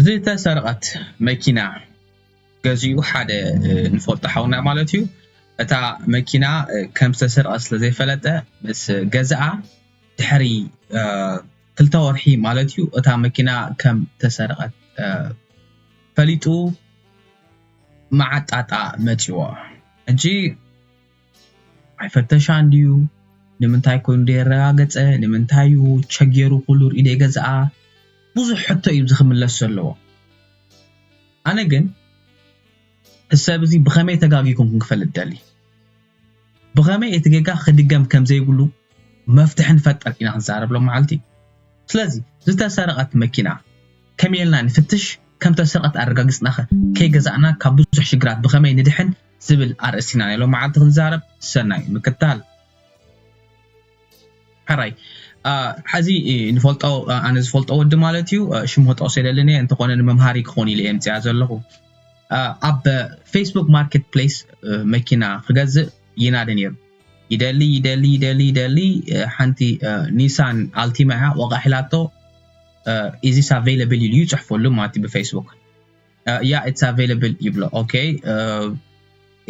ዝተሰርቐት መኪና ገዚኡ ሓደ ንፈልጦ ሓውና ማለት እዩ እታ መኪና ከም ዝተሰርቐት ስለ ዘይፈለጠ ምስ ገዝኣ ድሕሪ ክልተ ወርሒ ማለት እዩ እታ መኪና ከም ተሰርቐት ፈሊጡ መዓጣጣ መፂዎ ሕጂ ኣይፈተሻን ድዩ ንምንታይ ኮይኑ ደይረጋገጸ ንምንታይ እዩ ቸጌሩ ኩሉ ርኢ ደይገዝኣ ብዙሕ ሕቶ እዩ እዚ ክምለስ ዘለዎ ኣነ ግን ሰብ እዚ ብኸመይ ተጋጊኩም ክንክፈልጥ ደሊ ብኸመይ እቲ ጌጋ ክድገም ከም ዘይብሉ መፍትሒ ንፈጠር ኢና ክንዛረብ ሎ መዓልቲ ስለዚ ዝተሰረቐት መኪና ከመይ ኢልና ንፍትሽ ከም ተሰርቐት ኣረጋጊጽናኸ ከይገዛእና ካብ ብዙሕ ሽግራት ብኸመይ ንድሕን ዝብል ኣርእስቲ ኢና ናይ ሎምዓልቲ ክንዛረብ ሰናይ ምክታል። ሕራይ ሐዚ ንፈልጦ ኣነ ዝፈልጦ ወዲ ማለት እዩ ሽሙ ክጠቅሶ ኣይደልን እየ እንተኾነ ንመምሃሪ ክኾን ኢለ እየ ኣምፂኣ ዘለኹ ኣብ ፌስቡክ ማርኬት ፕሌስ መኪና ክገዝእ ይናደ ነይሩ ይደሊ ይደሊ ይደሊ ይደሊ ሓንቲ ኒሳን ኣልቲማ እያ ዋጋ ሒላቶ ኢዚስ ኣቬይለብል ኢሉ ይፅሕፈሉ ማለት ብፌስቡክ uh, yeah it's available ይብሎ ኦኬ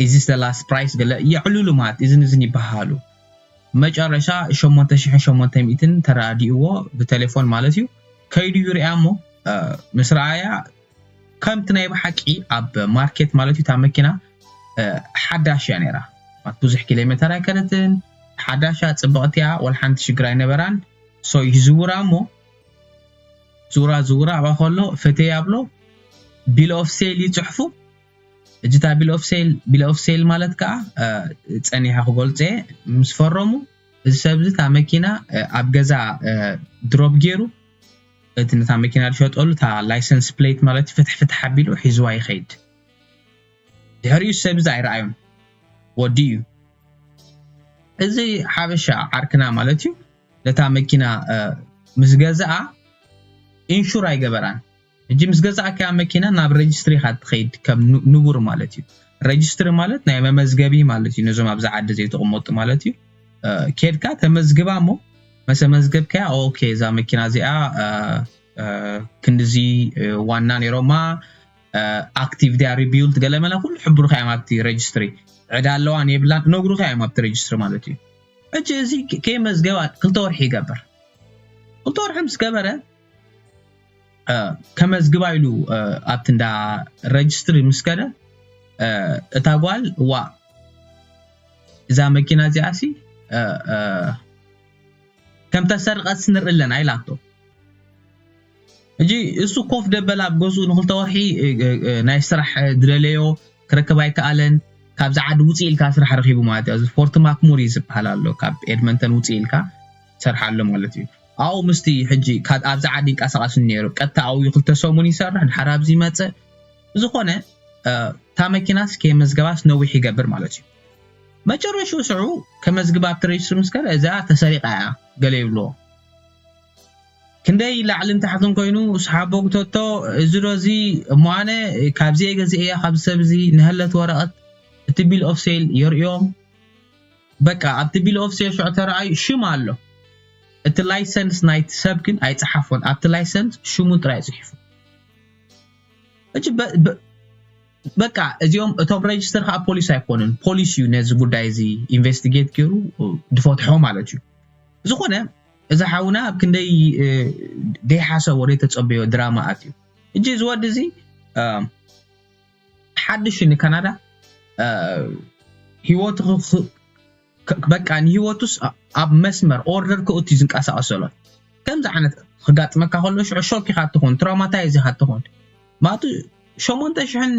ኢዚ ስለ ላስት ፕራይስ ገለ የዕልሉ ማለት እዝን እዝን ይበሃሉ መጨረሻ 8800 ተራዲእዎ ብቴሌፎን ማለት እዩ ከይዱ ይርያ እሞ uh, ምስ ረኣያ ከምቲ ናይ ብሓቂ ኣብ ማርኬት ማለት እዩ እታ መኪና uh, ሓዳሽ እያ ነይራ ብዙሕ ኪሎ ሜተር ኣይከነትን ሓዳሻ ፅብቕቲ እያ ወላ ሓንቲ ሽግር ኣይነበራን ሶ ይዝውራ እሞ ዙራ ዝውራ ኣብኣ ከሎ ፈቴ ኣብሎ ቢል ኦፍ ሴል ይጽሕፉ እጅታ እታ ቢል ኦፍ ሴል ቢል ኦፍ ሴል ማለት ከዓ ፀኒሐ ክገልፆ እየ ምስ ፈረሙ እዚ ሰብ እዚ እታ መኪና ኣብ ገዛ ድሮፕ ገይሩ እቲ ነታ መኪና ዝሸጠሉ እታ ላይሰንስ ፕሌት ማለት ፍትሕ ፍትሕ ኣቢሉ ሒዝዋ ይኸይድ ድሕሪኡ ሰብ እዚ ኣይረኣዩን ወዲኡ እዩ እዚ ሓበሻ ዓርክና ማለት እዩ ነታ መኪና ምስ ገዝኣ ኢንሹር ኣይገበራን ሕጂ ምስ ገዛእካያ መኪና ናብ ረጅስትሪ ኢኻ ትኸይድ ከም ንቡር ማለት እዩ ረጅስትሪ ማለት ናይ መመዝገቢ ማለት እዩ ነዞም ኣብዚ ዓዲ ዘይተቕመጡ ማለት እዩ ኬድካ ተመዝግባ እሞ መሰመዝገብካያ ኦኬ እዛ መኪና እዚኣ ክንድዚ ዋና ነይሮማ ኣክቲቭ ድያ ሪቢውልት ገለመለ ኩሉ ሕብሩካ እዮም ኣብቲ ረጅስትሪ ዕዳ ኣለዋን የብላን ነግሩካ እዮም ኣብቲ ረጅስትሪ ማለት እዩ ሕጂ እዚ ከይመዝገባ ክልተ ወርሒ ይገብር ክልተ ወርሒ ምስ ገበረ ከመዝግባ ኢሉ ኣብቲ እንዳ ረጅስትሪ ምስ ከደ እታ ጓል እዋ እዛ መኪና እዚኣሲ ከም ተሰርቀት ንርኢ ኣለና ኢላቶ ሕጂ እሱ ኮፍ ደበል ኣብ ገዝኡ ንክልተ ወርሒ ናይ ስራሕ ዝደለዮ ክረክብ ኣይከኣለን ካብዚ ዓዲ ውፅእ ኢልካ ስራሕ ረኪቡ ማለት እዩ ፎርቲ ማክሙሪ ዝበሃል ኣሎ ካብ ኤድመንተን ውፅእ ኢልካ ሰርሕ ኣሎ ማለት እዩ ኣብኡ ምስቲ ሕጂ ኣብዚ ዓዲ ይንቀሳቐስ ነይሩ ቀጥታ ኣብኡ ክልተ ሰሙን ይሰርሕ ድሓር ኣብዚ ይመፅእ ዝኾነ እታ መኪናስ ከየመዝገባስ ነዊሕ ይገብር ማለት እዩ መጨረሽኡ ስዑ ከመዝግባ ኣብቲ ሬጅስትሪ ምስ ከደ እዚኣ ተሰሪቓ እያ ገለ ይብልዎ ክንደይ ላዕልን ታሕትን ኮይኑ ስሓቦግቶቶ እዚ ዶ እዚ እሞ ኣነ ካብዚየ ገዚኤያ ካብዚ ሰብ እዚ ንሀለት ወረቀት እቲ ቢል ኦፍ ሴል የርእዮም በቃ ኣብቲ ቢል ኦፍ ሴል ሽዑ ተራኣዩ ሽም ኣሎ እቲ ላይሰንስ ናይቲ ሰብ ግን ኣይጸሓፎን ኣብቲ ላይሰንስ ሽሙ ጥራይ ጽሒፉ ሕጂ በቃ እዚኦም እቶም ሬጅስተር ከዓ ፖሊስ ኣይኮኑን ፖሊስ እዩ ነዚ ጉዳይ እዚ ኢንቨስቲጌት ገይሩ ድፈትሖ ማለት እዩ ዝኾነ እዚ ሓውና ኣብ ክንደይ ዘይሓሰቦ ዘይተጸበዮ ድራማ ኣትዩ ሕጂ እዚ ወዲ እዚ ሓድሽ ንካናዳ ሂወቱ በቃ ንሂወቱስ ኣብ መስመር ኦርደር ከእቱ እዩ ዝንቀሳቐስ ዘሎ ከምዚ ዓይነት ክጋጥመካ ከሎ ሽዑ ሾክ ኢኻ እትኾን ትራውማታይዝ ኢኻ እትኾን ማቱ ሸሞንተ ሽሕን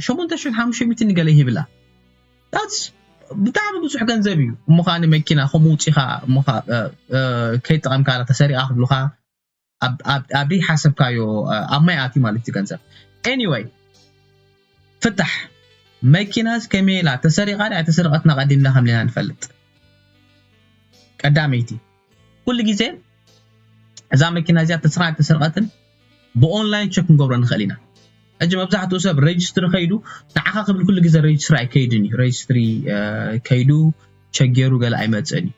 ሸሞንተ ሽሕን ሓሙሽተ ሚእትን ገለ ይህብላ That's ብጣዕሚ ብዙሕ ገንዘብ እዩ እሞ ከዓ ንመኪና ከምኡ ውፂኻ እሞ ከዓ ከይጠቐምካላ ተሰሪቓ ክብሉኻ ኣብ ዘይሓሰብካዮ ኣብ ማይ ኣትዩ ማለት እዩ ገንዘብ ኤኒወይ ፍታሕ መኪናስ ከመይ ኢላ ተሰሪቓ ድያ ኣይተሰረቐትን ኣቐዲምና ከምኔና ንፈልጥ ቀዳመይቲ ኩሉ ግዜ እዛ መኪና እዚኣ ተስራቅ ኣይተሰርቀትን ብኦንላይን ቸክ ክንገብሮ ንኽእል ኢና ሕጂ መብዛሕትኡ ሰብ ሬጅስትሪ ከይዱ ንዓኻ ክብል ኩሉ ግዜ ሬጅስትሪ ኣይከይድን እዩ ሬጅስትሪ ከይዱ ቸክ ገይሩ ገለ ኣይመፅእን እዩ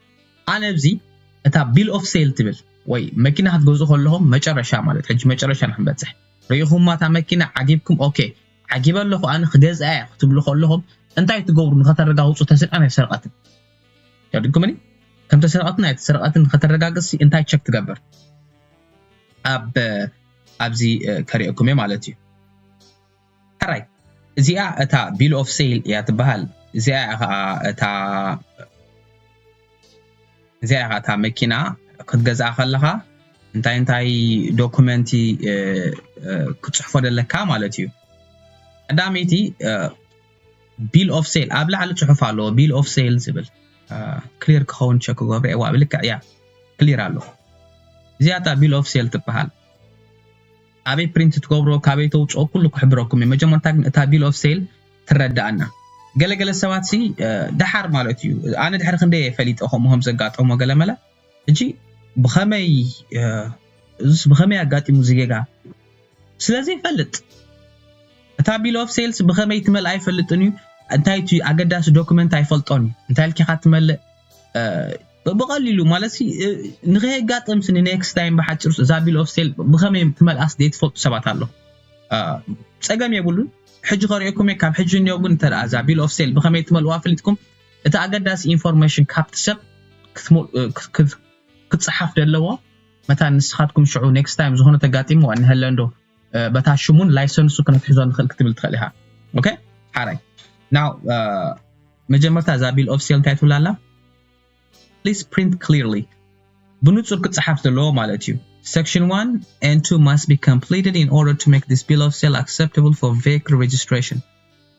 ኣነ እዚ እታ ቢል ኦፍ ሴል ትብል ወይ መኪና ክትገዝኡ ከለኹም መጨረሻ ማለት ሕጂ መጨረሻ ንክንበፅሕ ርኢኹማ እታ መኪና ዓጊብኩም ኦኬ ዓጊበ ኣለኹ ኣነ ክገዝኣ እየ ክትብሉ ከለኹም እንታይ ትገብሩ ንኸተረጋግፁ ተስርቀን ኣይሰርቀትን የድግሙኒ ከም ተሰረቀትን ኣይተሰረቀትን ከተረጋግጽሲ እንታይ ቸክ ትገብር ኣብ ኣብዚ ከሪኤኩም እየ ማለት እዩ ሕራይ እዚኣ እታ ቢል ኦፍ ሴል እያ ትበሃል እዚኣ ከዓ እታ እዚኣ ከዓ እታ መኪና ክትገዝኣ ከለኻ እንታይ እንታይ ዶኩመንቲ ክፅሕፎ ደለካ ማለት እዩ ቀዳመይቲ ቢል ኦፍ ሴል ኣብ ላዕሊ ጽሑፍ ኣለዎ ቢል ኦፍ ሴል ዝብል ክሊር ክኸውን ቸክ ክገብረ እየ ዋብ ልክዕ እያ ክሊር ኣሎ እዚኣ እታ ቢል ኦፍ ሴል ትበሃል ኣበይ ፕሪንት ትገብሮ ካበይ ተውፅኦ ኩሉ ክሕብረኩም እዩ መጀመርታ ግን እታ ቢል ኦፍ ሴል ትረዳእና ገለገለ ሰባት ሲ ደሓር ማለት እዩ ኣነ ድሕሪ ክንደይ ፈሊጠ ከምኡ ከም ዘጋጠሞ ገለመለ ሕጂ ብኸመይ እዙስ ብኸመይ ኣጋጢሙ እዚ ጌጋ ስለ ዘይፈልጥ እታ ቢል ኦፍ ሴልስ ብኸመይ ትመልእ ኣይፈልጥን እዩ እንታይ እቲ ኣገዳሲ ዶክመንት ኣይፈልጦን እዩ እንታይ ልኪኻ ትመልእ ብቐሊሉ ማለት ንኸየጋጥም ስኒ ኔክስት ታይም ብሓጭር እዛ ቢል ኦፍ ሴል ብኸመይ ትመልኣስ ዘይትፈልጡ ሰባት ኣሎ ፀገም የብሉን ሕጂ ከሪኦኩም እየ ካብ ሕጂ እኒኦ ግን እተ እዛ ቢል ኦፍ ሴል ብኸመይ ትመልእዋ ፈሊጥኩም እቲ ኣገዳሲ ኢንፎርመሽን ካብቲ ሰብ ክጸሓፍ ደለዎ መታን ንስኻትኩም ሽዑ ኔክስት ታይም ዝኾነ ተጋጢምዋ እንሀለ እንዶ በታ ሽሙን ላይሰንሱ ክነትሕዞ ንኽእል ክትብል ትኽእል ኢኻ ኦኬ ሓራይ ናው መጀመርታ እዛ ቢል ኦፍ ሴል እንታይ ትብላ ኣላ ፕሊስ ፕሪንት ክሊርሊ ብንጹር ክጸሓፍ ዘለዎ ማለት እዩ Section 1 and 2 must be completed in order to make this bill of sale acceptable for vehicle registration.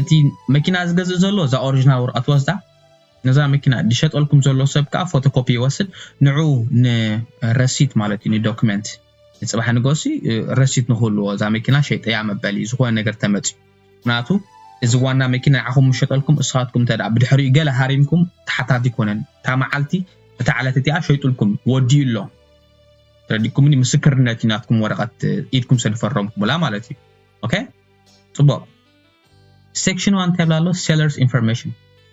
እቲ መኪና ዝገዝእ ዘሎ እዛ ኦርጅናል ወረቀት ወስዳ ነዛ መኪና ዝሸጠልኩም ዘሎ ሰብ ከዓ ፎቶ ኮፒ ይወስድ ንዑ ንረሲት ማለት እዩ ንዶክመንት ንፅባሕ ንገሲ ረሲት ንክህልዎ እዛ መኪና ሸይጠያ መበሊ ዝኾነ ነገር ተመፅዩ ምክንያቱ እዚ ዋና መኪና ንዓኹም ምሸጠልኩም እስኻትኩም እንተ ብድሕሪኡ ገለ ሃሪምኩም ተሓታቲ ይኮነን እታ መዓልቲ እታ ዕለት እቲኣ ሸይጡልኩም ወዲኡ ኣሎ ተረዲኩምኒ ምስክርነት እዩ ናትኩም ወረቀት ኢድኩም ሰድፈረምኩምላ ማለት እዩ ኦኬ ጽቡቕ ሴክሽን ዋን እንታይ ይብላ ኣሎ ሴለርስ ኢንፎርሜሽን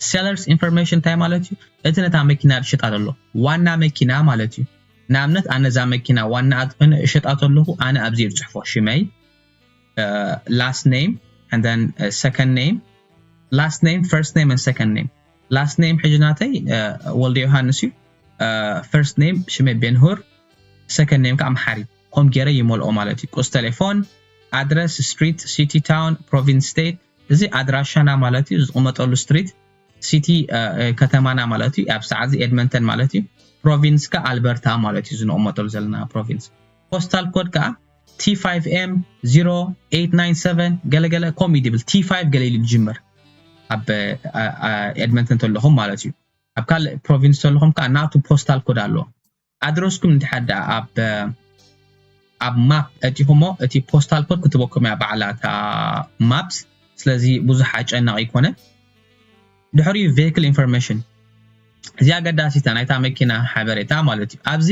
ሴለርስ ኢንፎርሜሽን እንታይ ማለት እዩ እቲ ነታ መኪና ዝሸጣ ዘሎ ዋና መኪና ማለት እዩ ንኣብነት ኣነ እዛ መኪና ዋና ኣትኮይነ እሸጣ ተለኹ ኣነ ኣብዚ ዝጽሕፎ ሽመይ ላስት ኔም and then uh, second name last name first name and second name last name ሕጂ ናተይ ወልደ ዮሃንስ እዩ ፈርስት ኔም ሽመይ ቤንሁር ሰከንድ ኔም ከዓ መሓሪ ኮም ጌረ ይመልኦ ማለት እዩ ቁጽ ተሌፎን ኣድረስ ስትሪት ሲቲ ታውን ፕሮቪንስ ስተይት እዚ ኣድራሻና ማለት እዩ ዝቕመጠሉ ስትሪት ሲቲ ከተማና ማለት እዩ ኣብ ሰዓት እዚ ኤድመንተን ማለት እዩ ፕሮቪንስ ከ ኣልበርታ ማለት እዩ ዝንቕመጠሉ ዘለና ፕሮቪንስ ፖስታል ኮድ ከዓ T5M 0897 ገለገለ ኮም ይብል T5 ገለ ኢሉ ዝጅምር ኣብ ኤድመንተን ተለኹም ማለት እዩ ኣብ ካልእ ፕሮቪንስ ተለኹም ከዓ ናቱ ፖስታል ኮድ ኣለዎ ኣድረስኩም እንድሕር ደኣ ኣብ ኣብ ማፕ ኣእቲኹሞ እቲ ፖስታል ኮድ ክትበኩም እያ ባዕላ እታ ማፕስ ስለዚ ብዙሕ ኣጨናቂ ኣይኮነን ድሕሪኡ ቬክል ኢንፎርሜሽን እዚ ኣገዳሲታ ናይታ መኪና ሓበሬታ ማለት እዩ ኣብዚ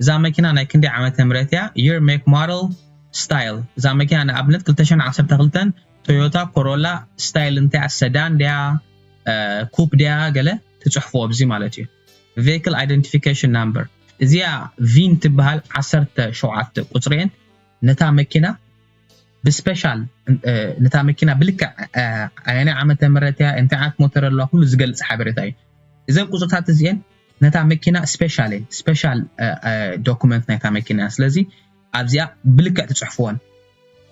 እዛ መኪና ናይ ክንደይ ዓመተ ምህረት እያ የር ሜክ ሞደል ስታይል እዛ መኪና ንኣብነት 212 ቶዮታ ኮሮላ ስታይል እንታይ እያ ሰዳን ድያ ኩፕ ድያ ገለ ትጽሕፉ ኣብዚ ማለት እዩ Vehicle Identification Number እዚኣ ቪን ትበሃል ዓሰርተ ሸውዓተ ቁጽሪኤን ነታ መኪና ብስፔሻል ነታ መኪና ብልክዕ ኣየናይ ዓመተ ምህረት እያ እንታይ ዓይነት ሞተር ኣለዋ ኩሉ ዝገልጽ ሓበሬታ እዩ እዘን ቁጽርታት እዚኤን ነታ መኪና ስፔሻል እየን ስፔሻል ዶኩመንት ናይታ መኪና ስለዚ ኣብዚኣ ብልክዕ ትጽሕፍወን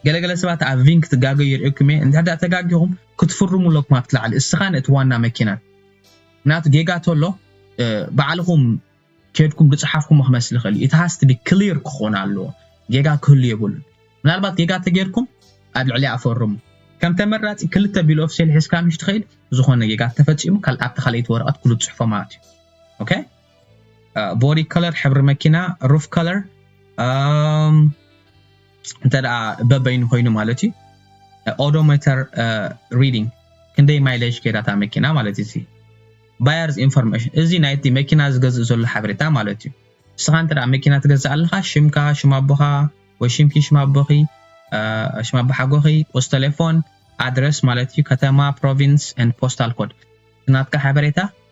ገለ ገለ ሰባት ኣብ ቪን ክትጋገዩ የርእኩም እየ እንድሕር ድኣ ተጋጊኹም ክትፍርሙ ኣለኩም ኣብቲ ላዕሊ እስኻን እቲ ዋና መኪናን ምክንያቱ ጌጋ ተሎ ባዕልኹም ኬድኩም ድጽሓፍኩሞ ክመስል ይኽእል እዩ it has to be clear ክኾን ኣለዎ ጌጋ ክህሉ የብሉን ምናልባት ጌጋ ተጌርኩም ኣብ ልዕሊኣ ፈርሙ ከም ተመራጺ ክልተ ቢል ኦፍ ሴል ሒዝካ ምሽ ትኸይድ ዝኾነ ጌጋ ተፈጺሙ ካል ኣብታ ካልኣይቲ ወረቐት ኩሉ ትጽሕፎ ማለት እዩ ኦኬ ቦዲ ከለር ሕብሪ መኪና ሩፍ ከለር እንተ በበይኑ ኮይኑ ማለት እዩ ኦዶሜተር ሪዲንግ ክንደይ ማይለጅ ከይዳታ መኪና ማለት እዩ ባየርስ ኢንፎርሜሽን እዚ ናይቲ መኪና ዝገዝእ ዘሎ ሓበሬታ ማለት እዩ ንስኻ እንተ መኪና ትገዝእ ኣለኻ ሽምካ ሽም ኣቦኻ ወይ ሽምኪ ሽም ኣቦኺ ሽም ኣቦ ሓጎኺ ቁስ ቴሌፎን ኣድረስ ማለት እዩ ከተማ ፕሮቪንስ ን ፖስታል ኮድ ናትካ ሓበሬታ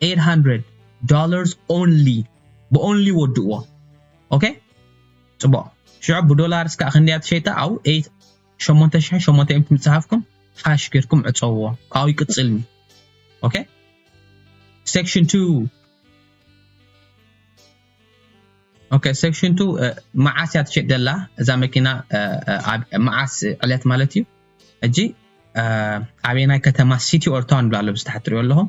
ኤይት ሃንድረድ ዶላርስ ኦንሊ ብኦንሊ ወድእዎ ኦኬ ጽቡቅ ሽዑ ብዶላርስ ከኣ ክንደያ ትሸይጣ ኣው ኤይት ሸሞንተ ሽሕን ሸሞንተ ሚእትን ምጽሓፍኩም ሓሽ ጌርኩም ዕጸውዎ ካብኡ ይቅጽልኒ ኦኬ ሴክሽን 2 ኦኬ ሴክሽን ቱ መዓስ እያ ትሸጥ ዘላ እዛ መኪና መዓስ ዕለት ማለት እዩ እጂ ኣበየናይ ከተማ ሲቲ ኦር ታውን ብላ ኣሎ ብዝተሓትሪዮ ኣለኹም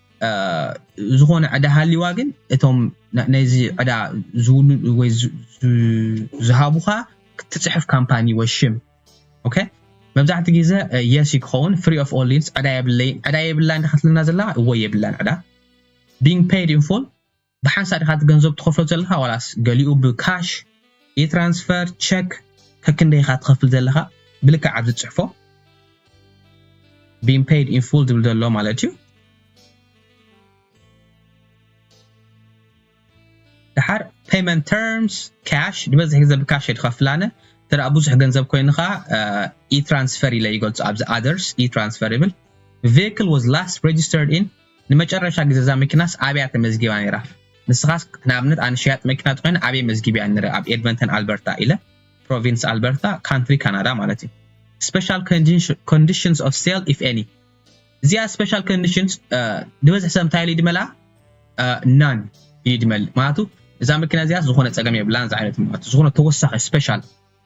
ዝኾነ ዕዳ ሃልይዋ ግን እቶም ነዚ ዕዳ ዝውሉ ወይ ዝሃቡኻ ክትፅሕፍ ካምፓኒ ወይ ሽም ኦኬ መብዛሕትኡ ግዜ የስ ክኸውን ፍሪ ኦፍ ኦል ሊንስ ዕዳ የብለይ ዕዳ የብላን ክትልና ዘላ ወይ የብላን ዕዳ ቢንግ ፔድ ኢን ፉል ብሓንሳእ ዲኻ እቲ ገንዘብ ትኸፍሎ ዘለኻ ዋላስ ገሊኡ ብካሽ፣ ኢትራንስፈር፣ ቸክ ከክንደይ ኢኻ ትኸፍል ዘለኻ ብልክዕ ኣብዚ ጽሕፎ ቢን ፐይድ ኢን ፉል ዝብል ዘሎ ማለት እዩ። ድሓር ፔመንት ተርምስ ካሽ ዝበዝሕ ግዜ ብካሽ እየ ዝኸፍል ኣነ እንተ ደኣ ብዙሕ ገንዘብ ኮይኑ ከዓ ኢትራንስፈር ኢለ ይገልጾ ኣብዚ ኣደርስ ኢትራንስፈር ይብል ቬክል ዋዝ ላስት ሬጅስተርድ ኢን ንመጨረሻ ግዜ እዛ መኪናስ ኣበያ ተመዝጊባ ነይራ? ንስኻስ ንኣብነት ኣነ ሸያጢ መኪና ተኾይነ ኣበይ መዝጊበያ ነረ ኣብ ኤድመንተን ኣልበርታ ኢለ ፕሮቪንስ ኣልበርታ ካንትሪ ካናዳ ማለት እዩ ስፐሻል ኮንዲሽንስ ኦፍ ሴል ኢፍ ኤኒ እዚኣ ስፐሻል ኮንዲሽንስ ዝበዝሕ ሰብ እንታይ ኢሉ ይድመላ ናን ይድመል ማለቱ እዛ መኪና እዚኣ ዝኾነ ጸገም የብላን ዝዓይነት ማለት ዝኾነ ተወሳኺ ስፔሻል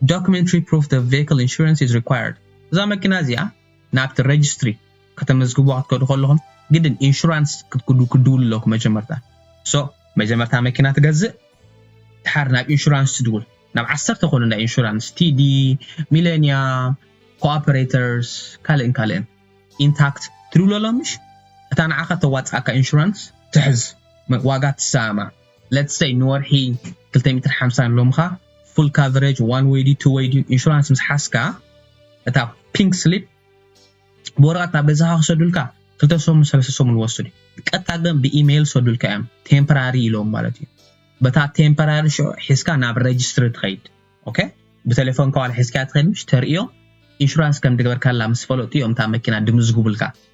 Documentary proof the vehicle insurance is required እዛ መኪና እዚኣ ናብቲ ረጅስትሪ ከተመዝግብዋ ክትከዱ ከለኹም ግድን ኢንሹራንስ ክትክዱ ክትድውሉ ኣለኩም መጀመርታ so መጀመርታ መኪና ትገዝእ ድሓር ናብ ኢንሹራንስ ትድውል ናብ ዓሰርተ ኮኑ እንዳ ኢንሹራንስ ቲዲ ሚሌንያ ኮኦፐሬተርስ ካልእን ካልእን ኢንታክት ትድውለሎም ምሽ እታ ንዓኻ ተዋፅኣካ ኢንሹራንስ ትሕዝ ዋጋ ትሰማማዕ ለትስ ሰይ ንወርሒ ክልተ ሚእትን ሓምሳን ሎምኻ ፉል ካቨረጅ ዋን ወይ ድዩ ቱ ወይ ድዩ ኢንሹራንስ ምስ ሓዝካ እታ ፒንክ ስሊፕ ብወረቐት ናብ ገዛኻ ክሰዱልካ ክልተ ሰሙን ሰለስተ ሰሙን ወስዱ ቀጥታ ግን ብኢሜይል ሰዱልካ እዮም ቴምፖራሪ ኢሎም ማለት እዩ በታ ቴምፖራሪ ሽዑ ሒዝካ ናብ ረጅስትሪ ትኸይድ ኦኬ ብቴሌፎን ከዋል ሒዝካ ትኸይድ ምሽ ተርእዮ ኢንሹራንስ ከም ድገበርካላ ምስ ፈለጡ እዮም እታ መኪና ድምዝግቡልካ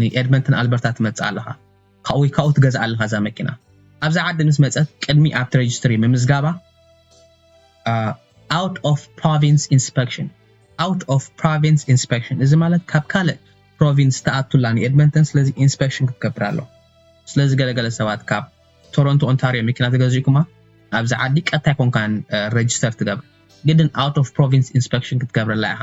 ንኤድመንተን ኣልበርታ ትመጽእ ኣለኻ ካብኡ ወይ ካብኡ ትገዝኣ ኣለኻ እዛ መኪና። ኣብዛ ዓዲ ምስ መጸት ቅድሚ ኣብቲ ረጅስትሪ ምምዝጋባ ኣውት ኦፍ ፕሮቪንስ ኢንስፐክሽን ኣውት ኦፍ ፕሮቪንስ ኢንስፐክሽን እዚ ማለት ካብ ካልእ ፕሮቪንስ ተኣቱላ ንኤድመንተን ስለዚ ኢንስፐክሽን ክትገብር ኣሎ ስለዚ ገለገለ ሰባት ካብ ቶሮንቶ ኦንታሪዮ መኪና ተገዚእኩማ ኣብዚ ዓዲ ቀጥታ ኣይኮንካን ረጅስተር ትገብር ግድን ኣውት ኦፍ ፕሮቪንስ ኢንስፐክሽን ክትገብረላ ኢኻ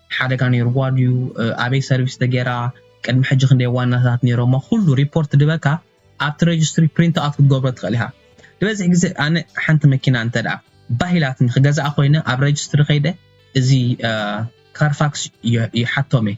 ሓደጋ ነይርዋ ድዩ ኣበይ ሰርቪስ ተገይራ ቅድሚ ሕጂ ክንደይ ዋናታት ነይሮማ ኩሉ ሪፖርት ድበካ ኣብቲ ረጅስትሪ ፕሪንት ኣውት ክትገብሮ ትኽእል ኢኻ ድበዝሕ ግዜ ኣነ ሓንቲ መኪና እንተድኣ ባህ ኢላትኒ ክገዝኣ ኮይነ ኣብ ረጅስትሪ ከይደ እዚ ካርፋክስ ይሓቶም እየ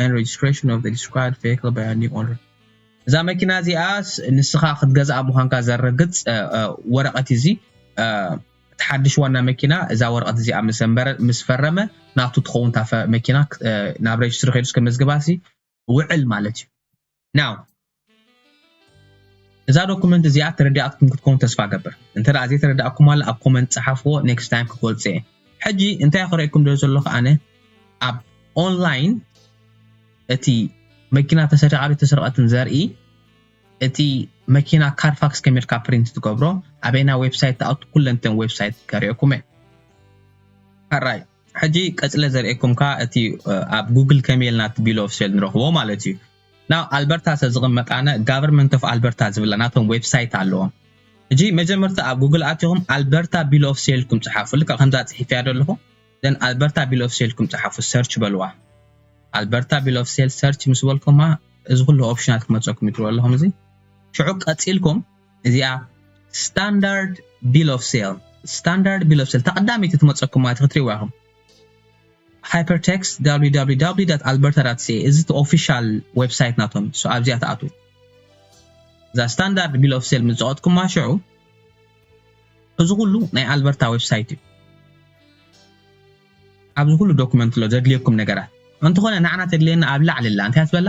and registration of the described vehicle by a new owner እዛ መኪና እዚኣ ንስኻ ክትገዝኣ ምዃንካ ዘረግጽ ወረቐት እዩ እዚ እቲ ሓድሽ ዋና መኪና እዛ ወረቐት እዚኣ ምስ ፈረመ ናቱ ትኸውን እታ መኪና ናብ ሬጅስትሪ ከይዱ ከመዝግባሲ ውዕል ማለት እዩ Now እዛ ዶኩመንት እዚኣ ተረዲኣትኩም ክትከውን ተስፋ እገብር እንተ ዘይተረዳእኩማላ ኣብ ኮመንት ጸሓፍዎ ኔክስት ታይም ክገልጾ እየ ሕጂ እንታይ ክርእየኩም ደል ዘለኹ ኣነ ኣብ ኦንላይን እቲ መኪና ተሰሪቓ ዶ ተሰርቐትን ዘርኢ እቲ መኪና ካርፋክስ ከመልካ ፕሪንት ትገብሮ ኣበይና ዌብሳይት ተኣቱ ኩለንተን ዌብሳይት ከርእየኩም እየ ሓራይ ሕጂ ቀጽለ ዘርእየኩም ከኣ እቲ ኣብ ጉግል ከመይ ኢልና እቲ ቢል ኦፍ ሴል ንረኽቦ ማለት እዩ። ናብ ኣልበርታ ተዝቕመጥ ኣነ ጋቨርመንት ኦፍ ኣልበርታ ዝብላ ናቶም ዌብሳይት ኣለዎም። ሕጂ መጀመርታ ኣብ ጉግል ኣቲኹም ኣልበርታ ቢል ኦፍ ሴል ኢልኩም ጽሓፉ ልክዕ ከምዛ ጽሒፈያ ዘለኹ then ኣልበርታ ቢል ኦፍ ሴል ኢልኩም ጽሓፉ ሰርች በልዋ ኣልበርታ ቢል ኦፍ ሴል ሰርች ምስ በልኩማ እዚ ኩሉ ኦፕሽናት ክመጸኩም እዩ ትሪእዎ ኣለኹም እዚ ሽዑ ቀጺልኩም እዚኣ ስታንዳርድ ቢል ኦፍ ሴል ስታንዳርድ ቢል ኦፍ ሴል ተቐዳሚቲ ትመፀኩም ማለት ክትሪእዋ ኢኹም ሃይፐርቴክስት www ኣልበርታ ሲ እዚ እቲ ኦፊሻል ዌብሳይት ናቶም ሶ ኣብዚኣ ትኣትዉ እዛ ስታንዳርድ ቢል ኦፍ ሴል ምስ ዘቐጥኩማ ሽዑ እዚ ኩሉ ናይ ኣልበርታ ዌብሳይት እዩ ኣብዚ ኩሉ ዶክመንት ኣሎ ዘድልየኩም ነገራት እንተኾነ ንዓና ተድልየና ኣብ ላዕሊ ኣላ እንታይ ትበላ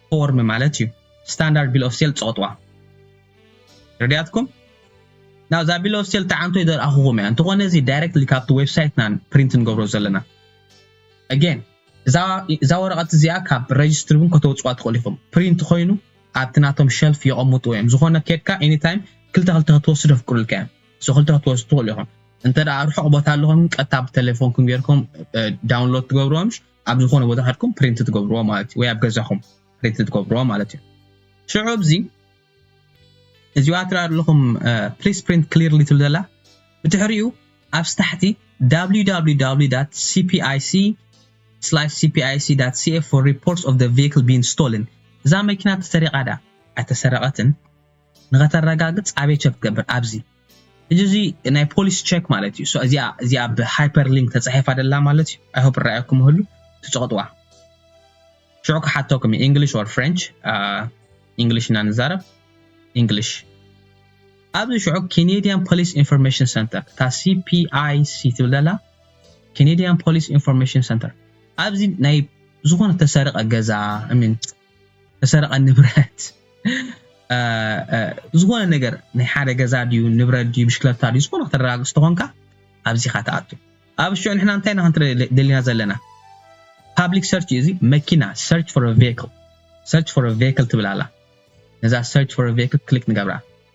ፎርም ማለት እዩ ስታንዳርድ ቢል ኦፍ ሴል ትጸቕጥዋ ረድያትኩም ናብዛ ቢል ኦፍ ሴል ተዓንቶ ይደርኣኹኹም እያ እንተኾነ እዚ ዳይሬክትሊ ካብቲ ዌብሳይትናን ፕሪንት ንገብሮ ዘለና ኣጌን እዛ ወረቐት እዚኣ ካብ ረጅስትሪ እውን ከተውፅዋ ትኽእሉ ኢኹም ፕሪንት ኮይኑ ኣብቲ ናቶም ሸልፍ የቐምጥዎ እዮም ዝኾነ ኬድካ ኤኒታይም ክልተ ክልተ ክትወስዱ ኣፍቅዱልካ እዮም ሶ ክልተ ክትወስዱ ትኽእሉ ኢኹም እንተ ርሑቕ ቦታ ኣለኹም ቀጥታ ብቴሌፎንኩም ጌርኩም ዳውንሎድ ትገብርዎም ኣብ ዝኾነ ቦታ ከድኩም ፕሪንት ትገብርዎ ማለት እዩ ወይ ኣብ ገዛኹም ፕሪንት ትገብርዎ ማለት እዩ ሽዑ እዚ እዚኣ ትርኣ ኣለኹም ፕሊስ ፕሪንት ክሊርሊ ትብል ዘላ ብድሕሪኡ ኣብስ ታሕቲ www cpic cpic.ca for reports of the vehicle being stolen እዛ መኪና ተሰሪቓ ዳ ኣይተሰረቐትን ንኸተረጋግፅ ኣበይ ቸክ ትገብር ኣብዚ ሕጂ እዚ ናይ ፖሊሲ ቸክ ማለት እዩ እሷ እዚኣ እዚኣ ኣብ ሃይፐር ሊንክ ተጻሒፋ ደላ ማለት እዩ ኣይ ሆፕ ራኣኩም ይህሉ ትጽቕጥዋ ሽዑ ክሓተኩም እዩ ኢንግሊሽ ኦር ፍሬንች ኢንግሊሽ እና ንዛረብ ኢንግሊሽ ኣብዚ ሽዑ ኬኔድያን ፖሊስ ኢንፎርሜሽን ሰንተር እታ ሲፒኣይሲ ትብል ደላ ኬኔድያን ፖሊስ ኢንፎርሜሽን ሰንተር ኣብዚ ናይ ዝኾነ ተሰርቀ ገዛ እሚን ተሰረቐ ንብረት ዝኾነ ነገር ናይ ሓደ ገዛ ድዩ ንብረት ድዩ ብሽክለታ ድዩ ዝኾነ ከተረጋግፅ ተኾንካ ኣብዚኻ ትኣቱ ኣብ ሽዑ ንሕና እንታይ ኢና ክንትርኢ ደሊና ዘለና ፓብሊክ ሰርች እዩ እዚ መኪና ሰርች ፎር ቬክል ሰርች ፎር ቬክል ትብል ኣላ ነዛ ሰርች ፎር ቬክል ክሊክ ንገብራ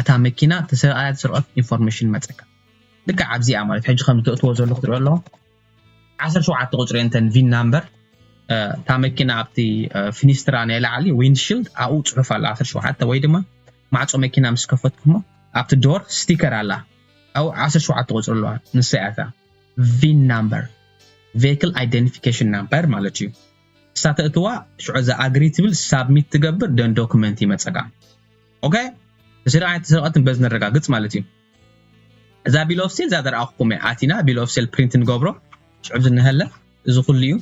እታ መኪና ተሰሪቓያ ዝስርቐት ኢንፎርሜሽን መጸካ ልክዕ ኣብዚኣ ማለት ሕጂ ከም ዘእትዎ ዘለኹ ትሪኦ ኣለኹ ዓሰርተ ሸውዓተ ቁጽሪ እንተን ቪን ናምበር እታ መኪና ኣብቲ ፊኒስትራ ናይ ላዕሊ ዊንድሽልድ ኣብኡ ጽሑፍ ኣላ ዓሰርተ ሸውዓተ ወይ ድማ ማዕጾ መኪና ምስ ከፈትኩሞ ኣብቲ ዶር ስቲከር ኣላ ኣብኡ ዓሰርተ ሸውዓተ ቁጽሪ ኣለዋ ንሳ እያ እታ ቪን ናምበር ቬክል ኣይደንቲፊኬሽን ናምበር ማለት እዩ እሳ ተእትዋ ሽዑ እዛ ኣግሪ ትብል ሳብሚት ትገብር ደን ዶክመንት ይመጸካ ኦከ ንስሪ ኣይተሰረቀትን በዚ ነረጋግጽ ማለት እዩ እዛ ቢል ኦፍ ሴል እዛ ዘረኣኹኩም እያ ኣቲና ቢል ኦፍ ሴል ፕሪንት ንገብሮ ሽዑ ዝነሀለ እዚ ኩሉ እዩ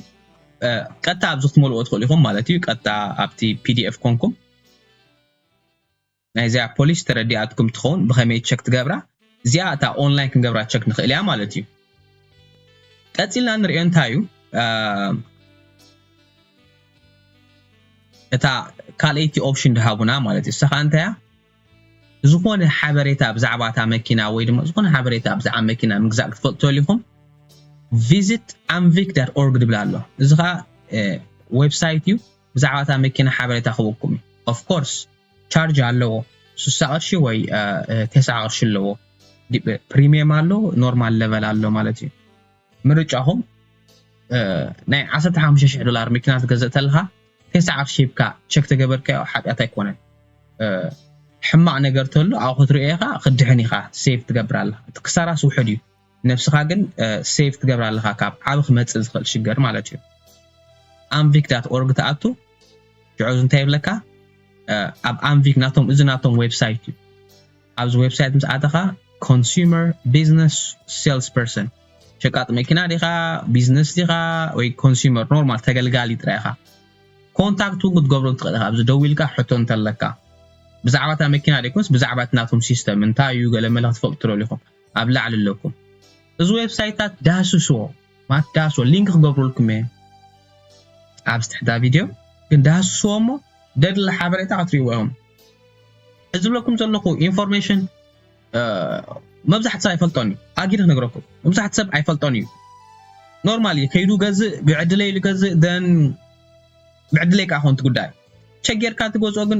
ቀጥታ ኣብዚ ክትመልዎ ትኽእሉ ኢኹም ማለት እዩ ቀጥታ ኣብቲ ፒዲኤፍ ኮንኩም ናይ እዚኣ ፖሊስ ተረዲኣትኩም ትኸውን ብኸመይ ቸክ ትገብራ እዚኣ እታ ኦንላይን ክንገብራ ቸክ ንኽእል እያ ማለት እዩ ቀጺልና እንሪኦ እንታይ እዩ እታ ካልኣይቲ ኦፕሽን ድሃቡና ማለት እዩ። እሳ ከዓ እንታይ እያ ዝኾነ ሓበሬታ ብዛዕባ እታ መኪና ወይ ድማ ዝኾነ ሓበሬታ ብዛዕባ መኪና ምግዛእ ክትፈልጡ ተልይኹም ቪዚት ኣምቪክ ዳት ኦርግ ድብል ኣሎ እዚ ከዓ ዌብሳይት እዩ። ብዛዕባ እታ መኪና ሓበሬታ ክህበኩም እዩ ኦፍ ኮርስ ቻርጅ ኣለዎ ስሳ ቅርሺ ወይ ተስዓ ቅርሺ ኣለዎ ፕሪሚየም ኣሎ ኖርማል ለቨል ኣሎ ማለት እዩ ምርጫኹም ናይ ዓሰርተ ሓሙሽተ ሽሕ ዶላር መኪና ትገዝእ ተለኻ ተስዓ ቅርሺ ሂብካ ቸክ ተገበርካዮ ሓጢኣት ኣይኮነን ሕማቅ ነገር ተሎ ኣብኡ ክትሪኦ ኢኻ ክድሕን ኢኻ ሴቭ ትገብር ኣለኻ እቲ ክሳራስ ውሕድ እዩ ነብስኻ ግን ሴቭ ትገብራ ኣለኻ ካብ ዓቢ ክመጽእ ዝኽእል ሽገር ማለት እዩ ኣንቪክ ዳት ኦርግ ትኣቱ ሽዑ እንታይ ይብለካ ኣብ ኣንቪክ ናቶም እዚ ናቶም ዌብሳይት እዩ ኣብዚ ዌብሳይት ምስ ኣተኻ ኮንሱመር ቢዝነስ ሴልስ ፐርሰን ሸቃጥ መኪና ዲኻ ቢዝነስ ዲኻ ወይ ኮንሱመር ኖርማል ተገልጋሊ ጥራይ ኢኻ ኮንታክት እውን ክትገብሮ ትኽእል ኢኻ ኣብዚ ደው ኢልካ ሕቶ እንተለካ ብዛዕባ እታ መኪና ደይኮንስ ብዛዕባ እቲ ናቶም ሲስተም እንታይ እዩ ገለ መለ ክትፈልጡ ትደልኹም ኣብ ላዕሊ ኣለኩም እዚ ዌብሳይታት ዳህስስዎ ማለት ዳህስዎ ሊንክ ክገብረልኩም እየ ኣብዚ ትሕታ ቪድዮ ግን ዳህስስዎ እሞ ደድሊ ሓበሬታ ክትሪእዎ እዮም እዚ ዝብለኩም ዘለኹ ኢንፎርሜሽን መብዛሕቲ ሰብ ኣይፈልጦን እዩ ኣጊድ ክነግረኩም መብዛሕቲ ሰብ ኣይፈልጦን እዩ ኖርማል እዩ ከይዱ ገዝእ ብዕድለይ ኢሉ ገዝእ ደን ብዕድለይ ከዓ ኮንት ጉዳይ ቸጌርካ ትገዝኦ ግን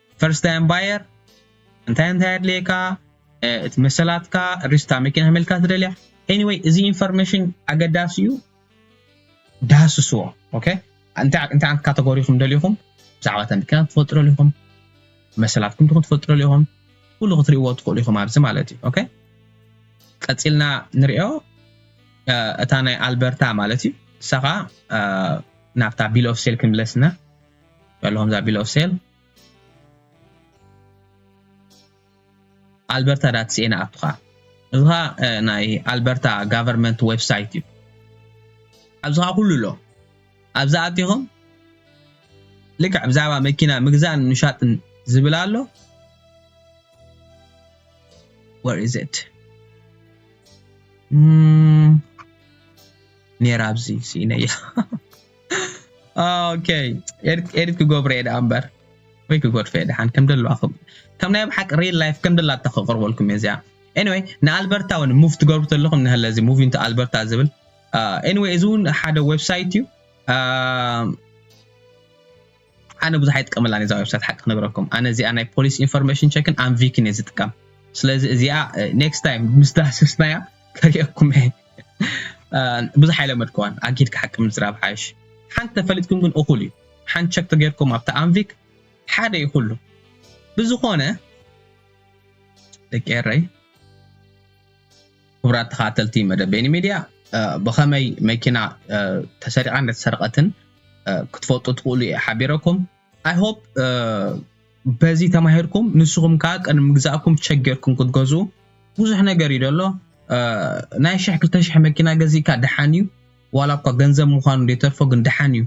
ፈርስት ታይም ባየር እንታይ እንታይ ኣድለየካ እቲ መሰላትካ ሪስታ መኪና ከመልካ ትደልያ ኤኒወይ እዚ ኢንፎርሜሽን ኣገዳሲ እዩ ዳህስስዎ ኦኬ እንታይ እንታይ ዓይነት ካተጎሪ ኢኹም ደሊኹም ብዛዕባ እታ መኪና ትፈልጥረሉ ኢኹም መሰላትኩም ትኹን ትፈልጥረሉ ኢኹም ኩሉ ክትሪእዎ ትኽእሉ ኢኹም ኣብዚ ማለት እዩ ኦኬ ቀፂልና ንሪኦ እታ ናይ ኣልበርታ ማለት እዩ ንሳ ከዓ ናብታ ቢል ኦፍ ሴል ክንምለስና በልኹም እዛ ቢል ኦፍ ሴል ኣልበርታ ዳትስኤ ንኣቱኻ እዚ ኸ ናይ ኣልበርታ ጋቨርንመንት ዌብሳይት እዩ ኣብዚ ኸ ኩሉ ኣሎ ኣብዚ ኣቲኹም ልክዕ ብዛዕባ መኪና ምግዛእን ምሻጥን ዝብል ኣሎ ወር ኢዝ ኢት ኔራ ኣብዚ ስኢነያ ኦኬ ኤዲት ኤዲት ክገብሮ እየ ደኣ እምበር ወይ ክጎድፈ እየ ደሓን ከም ደለዋ ከም ከም ናይ ኣብ ሓቂ ሪል ላይፍ ከም ደላታ ከቕርበልኩም እየ እዚኣ ኤኒወይ ንኣልበርታ እውን ሙቭ ትገብሩ ተለኹም ንህለ እዚ ሙቭ ኢንቱ ኣልበርታ ዝብል ኤኒወይ እዚ እውን ሓደ ዌብሳይት እዩ ኣነ ብዙሕ ኣይጥቀመላን እየ እዛ ዌብሳይት ሓቂ ክነግረኩም ኣነ እዚኣ ናይ ፖሊስ ኢንፎርሜሽን ቸክን ኣንቪክን እየ ዝጥቀም ስለዚ እዚኣ ኔክስት ታይም ምስ ዳህሰስናያ ከርእየኩም እየ ብዙሕ ኣይለመድኩዋን ኣጊድካ ሓቂ ምዝራብ ሓይሽ ሓንቲ ተፈሊጥኩም ግን እኹል እዩ ሓንቲ ቸክ ተገይርኩም ኣብቲ ኣንቪክ ሓደ እዩ ኩሉ ብዝኾነ ደቂ ኤረይ ክቡራት ተኸታተልቲ መደብ ቤኒ ሚድያ ብኸመይ መኪና ተሰሪቓ እንደተሰርቐትን ክትፈልጡ ትኽእሉ እየ ሓቢረኩም ኣይሆፕ በዚ ተማሂርኩም ንስኹም ከዓ ቅድሚ ምግዛእኩም ተሸገርኩም ክትገዝኡ ብዙሕ ነገር እዩ ደሎ ናይ ሽሕ ክልተ ሽሕ መኪና ገዚእካ ደሓን እዩ ዋላ እኳ ገንዘብ ምዃኑ ዘይተርፎ ግን ደሓን እዩ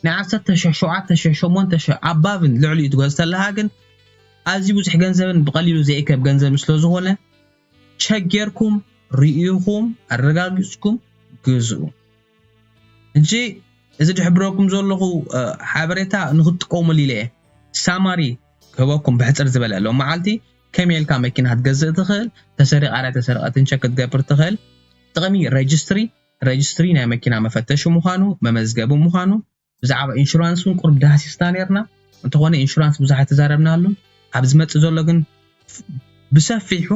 ናይ ዓሰርተ ሽሕ ሸውዓተ ሽሕ ሸሞንተ ሽሕ ኣባብን ልዕሊኡ ትገዝ ተለካ ግን ኣዝዩ ብዙሕ ገንዘብን ብቐሊሉ ዘይእከብ ገንዘብን ስለ ዝኾነ ቸክ ጌርኩም ሪኢኹም ኣረጋጊፅኩም ግዝኡ። ሕጂ እዚ ድሕብረኩም ዘለኹ ሓበሬታ ንክትጥቀሙሉ ኢለ እየ ሳማሪ ክህበኩም ብሕፅር ዝበለ ሎማዓልቲ ከመይ ኢልካ መኪና ክትገዝእ ትኽእል ተሰሪቓ ዶ ኣይተሰረቐትን ቸክ ክትገብር ትኽእል ጥቕሚ ረጅስትሪ ረጅስትሪ ናይ መኪና መፈተሺ ምዃኑ መመዝገቢ ምዃኑ ብዛዕባ ኢንሹራንስ ውን ቁሩብ ዳህሲስና ኔርና እንተኾነ ኢንሹራንስ ብዙሕ ኣይተዛረብናሉን ኣብ ዝመጽእ ዘሎ ግን ብሰፊሑ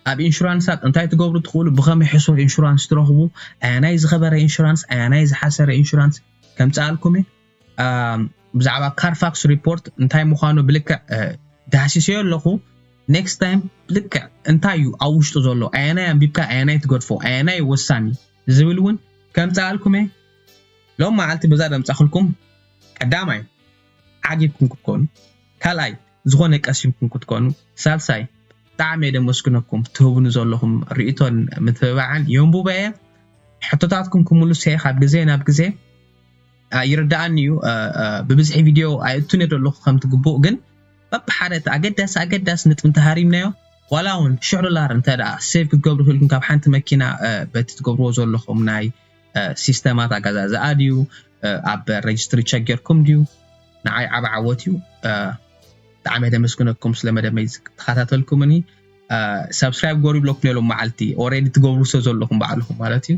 ኣብ ኢንሹራንሳት እንታይ ትገብሩ ትኽእሉ ብኸመይ ሕሱር ኢንሹራንስ ትረኽቡ ኣያናይ ዝኸበረ ኢንሹራንስ ኣያናይ ዝሓሰረ ኢንሹራንስ ከምጽኣልኩም እየ ብዛዕባ ካርፋክስ ሪፖርት እንታይ ምዃኑ ብልክዕ ዳህሲሰዮ ኣለኹ ኔክስት ታይም ብልክዕ እንታይ እዩ ኣብ ውሽጡ ዘሎ ኣየናይ ኣንቢብካ ኣየናይ ትገድፎ ኣየናይ ወሳኒ ዝብል ውን ከምጽኣልኩም'የ። ሎም መዓልቲ በዛ ዘምጻኹልኩም ቀዳማይ ዓጊብኩም ክትኮኑ ካልኣይ ዝኾነ ቀሲምኩም ክትኮኑ ሳልሳይ ብጣዕሚ'የ ደመስግነኩም ትህቡኒ ዘለኹም ርእይቶን ምትብባዕን የንቡቦ'የ ሕቶታትኩም ክምልሶ'የ ካብ ግዜ ናብ ግዜ ይርደኣኒ እዩ ብብዝሒ ቪድዮ ኣይእቱን እየ ዘለኹ ከምቲ ግቡእ ግን በብሓደ እቲ ኣገዳሲ ኣገዳሲ ንጥቢ እንተሃሪምናዮ ዋላ እውን ሽሕ ዶላር እንተ ደኣ ሴቭ ክትገብሩ ክኢልኩም ካብ ሓንቲ መኪና በቲ ትገብርዎ ዘለኹም ናይ ሲስተማት ኣገዛዝኣ ድዩ ኣብ ረጅስትሪ ቸክ ጌርኩም ድዩ ንዓይ ዓብ ዓወት እዩ ብጣዕሚ ደመስግነኩም ስለ መደመይ ተኸታተልኩምኒ ሳብስክራይብ ገሩ ይብለኩም ነሎም መዓልቲ ኦረዲ ትገብሩ ሰ ዘለኹም ባዕልኹም ማለት እዩ